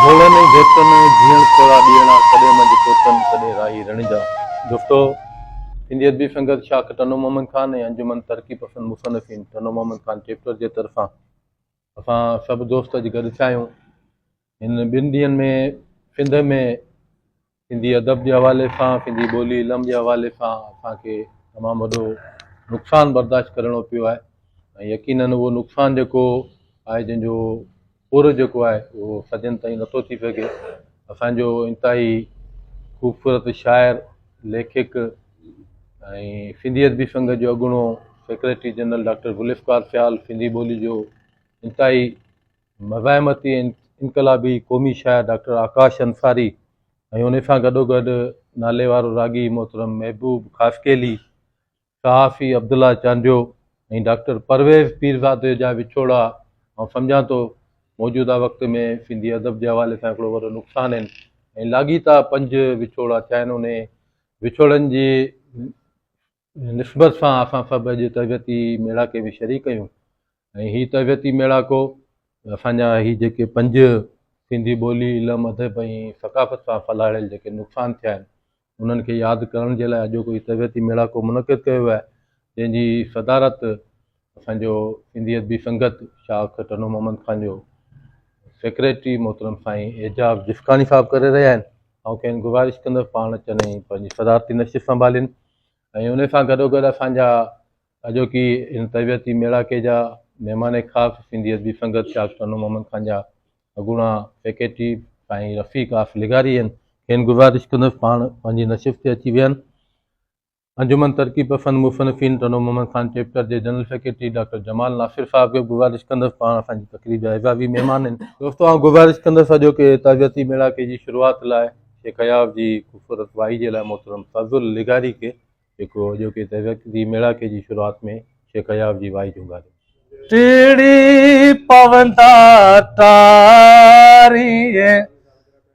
ڀولن ۽ ڀيتن، جيئڻ ٿورا ڏيئڻا، ڪڏهن منجهه ڪوتن، ڪڏهن راهي رڻ جا. جهٽو، سنڌي ادبي سنگت شاخ ٽنڊو محمد خان ۽ انجمن ترقي پسند مصنفين ٽنڊو محمد خان چيپٽر جي طرفان اسان سڀ دوست اڄ گڏ ٿيا آهيون. هن ٻن ڏينهن ۾ سنڌ ۾ سنڌي ادب جي حوالي سان سنڌي ٻولي علم جي حوالي سان اسان کي تمام وڏو نقصان برداشت ڪرڻو پيو آهي ۽ يقينن اهو نقصان جيڪو آهي جنهن جو پورو جيڪو آهي اهو سڄن تائين نٿو ٿي سگهي اسانجو انتهائي خوبصورت شاعر ليکڪ ۽ سنڌي ادبي سنگت جو اڳوڻو secretary general doctor Zulfiqar Sial Sindhi ٻولي جو انتهائي مزاحمتي ۽ انقلابي قومي شاعر ڊاڪٽر آڪاش انصاري ۽ ان سان گڏوگڏ ناليوارو راڳي محترم محبوب خاصخيلي، صحافي عبدالله چانڊيو ۽ ڊاڪٽر پرويز پيرزادي جا وڇوڙا آئون سمجهان ٿو موجوده وقت ۾ سنڌي ادب جي حوالي سان هڪڙو وڏو نقصان آهن ۽ لاڳيتا پنج وڇوڙا ٿيا آهن انهي وڇوڙن جي ان نسبت سان اسان سڀ اڄ تربيتي ميڙاڪي ۾ شريڪ آهيون ۽ هي تربيتي ميڙاڪو اسان جا هي جيڪي پنج سنڌي ٻولي، علم، ادب ۽ ثقافت سان ڦهلاڙيل جيڪي نقصان ٿيا آهن انهن کي ياد ڪرڻ جي لاء اڄوڪو هي تربيتي ميڙاڪو منعقد ڪيو ويو آهي جنهن جي صدارت اسان جو سنڌي ادبي سنگت شاخ ٽنو محمد خان جو سيڪريٽري محترم سائين اعجاز جسڪاڻي صاحب ڪري رهيا آهن آئون کين گذارش ڪندس پاڻ اچن ۽ پنهنجي صدارتي نشست سنڀالين ۽ ان سان گڏوگڏ اسان جا اڄوڪي ان تربيتي ميڙاڪي جا مهمان خاص سنڌي ادبي سنگت شاخ ٽنو محمد خان جا اڳوڻا سيڪريٽري سائين رفيق آف لغاري آهن کين گذارش ڪندس پاڻ پنهنجي نشست تي اچي ويهن انجمن ترقي پسند مصنفين ٽنڊو محمد خان چيپٽر جي general secretary doctor Jamal Nasir sahib کي به گذارش ڪندس پاڻ اسان جي تقريب جا اعزازي مهمان آهن. دوستو آئون گذارش ڪندس اڄوڪي تعزيتي ميڙاڪي جي شروعات لاء شيخ اياز جي خوبصورت وائي جي لاء محترم فضل لغاري کي جيڪو اڄوڪي تعزيتي ميڙاڪي جي شروعات ۾ شيخ اياز جي وائي جهونگاري. ٽڙي پوندا ٽاريء.